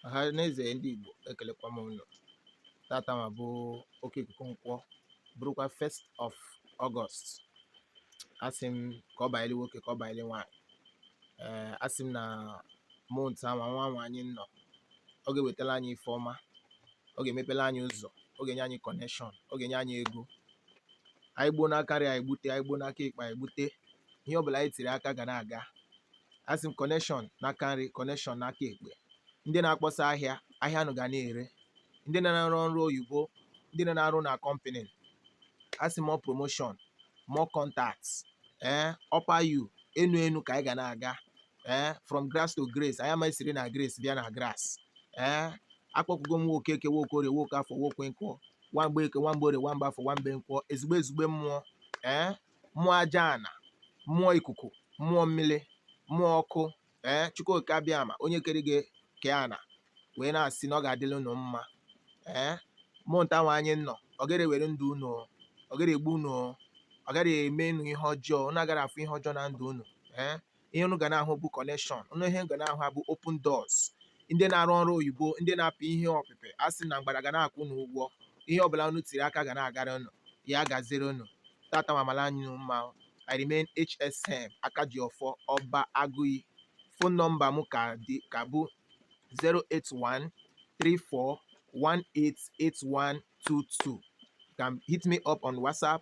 ọhaneze ndị Igbo ekelekwa m unu tata nwa bụ oke ikuku nkwọ bụrụkwa 1st of August asị m ka ọ banyere nwoke ka ọ banyere nwaanyị ee asị m na month a nwa nwa nwa anyị nọ ọ ga-ewetara anyị ife ọma ọ ga-emepere anyị ụzọ ọ ga-enye anyị connection ọ ga-enye anyị ego anyị gbuo n'aka nri anyị gbute anyị gbuo n'aka ekpe anyị gbute ihe ọbụla anyị tiri aka ga na-aga asị m connection n'aka nri connection n'aka ekpe ndị na-akpọsa ahịa ahịa unu ga na-ere ndị na-arụ ọrụ oyibo ndị na-arụ na company asị m promotion more contact ee upper you enu enu ka anyị ga na-aga ee eh, from grass to grace anyị amaghị siri na grace bịa na grass ee eh, akpọkwugo m nwoke eke nwoke orie nwoke afọ nwoke nkwọ nwamgbe eke nwamgbe orie nwamgbe afọ nwamgbe nkwọ ezigbo ezigbo mmụọ ee eh, mmụọ aja ana mmụọ ikuku mmụọ mmiri mmụọ ọkụ ee eh, chukwuoke abịama onye kere igwe kee ana wee na-asị na ọ ga-adịrị unu mma ee eh, month a nwa anyị nọ ọ gaghị ewere ndụ unu ọ gaghị egbu unu ọ gaghị eme unu ihe ọjọọ unu agaghị afụ ihe ọjọọ na ndụ unu ee eh, ihe unu ga na-ahụ bụ connection ihe unu ga na-ahụ bụ open doors ndị na-arụ ọrụ oyibo ndị na-apị ihe ọpịpị a sị na mgbada ga na-akwụ unu ụgwọ ihe ọbụla unu tiri aka ga na-agara unu ya gaziere unu tata nwa maala anyị mma I remain HSM Akajiofor Oba Aguiyi phone number m ka bụ 081 34 188122 can hit me up on WhatsApp.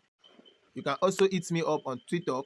You can also hit me up on TikTok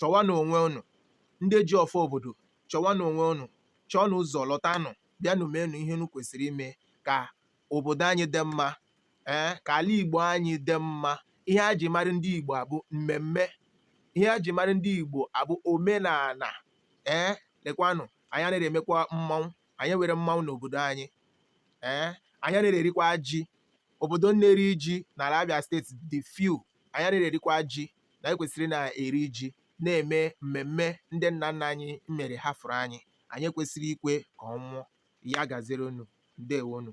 chọwanụ onwe unu ndị ji ọfọ obodo chọwanụ onwe unu chọọnụ ụzọ lọtanụ bịanụ meenụ ihe unu kwesịrị ime ka obodo anyị dị mma ee ka ala igbo anyị dị mma ihe a ji mara ndị igbo abụ mmemme ihe a ji mara ndị igbo abụ omenala ee lekwanụ anyị anaghị emekwa mmanwụ anyị nwere mmanwụ n'obodo anyị ee anyị anaghị erikwa ji obodo na-eri ji n'ala Abia state dị few anyị anaghị erikwa ji na anyị kwesịrị na-eri ji na-eme mmemme ndị nna nna anyị mere hafụrụ anyị anyị ekwesịghị ikwe ka ọ nwụọ ya gaziere unu ndewonu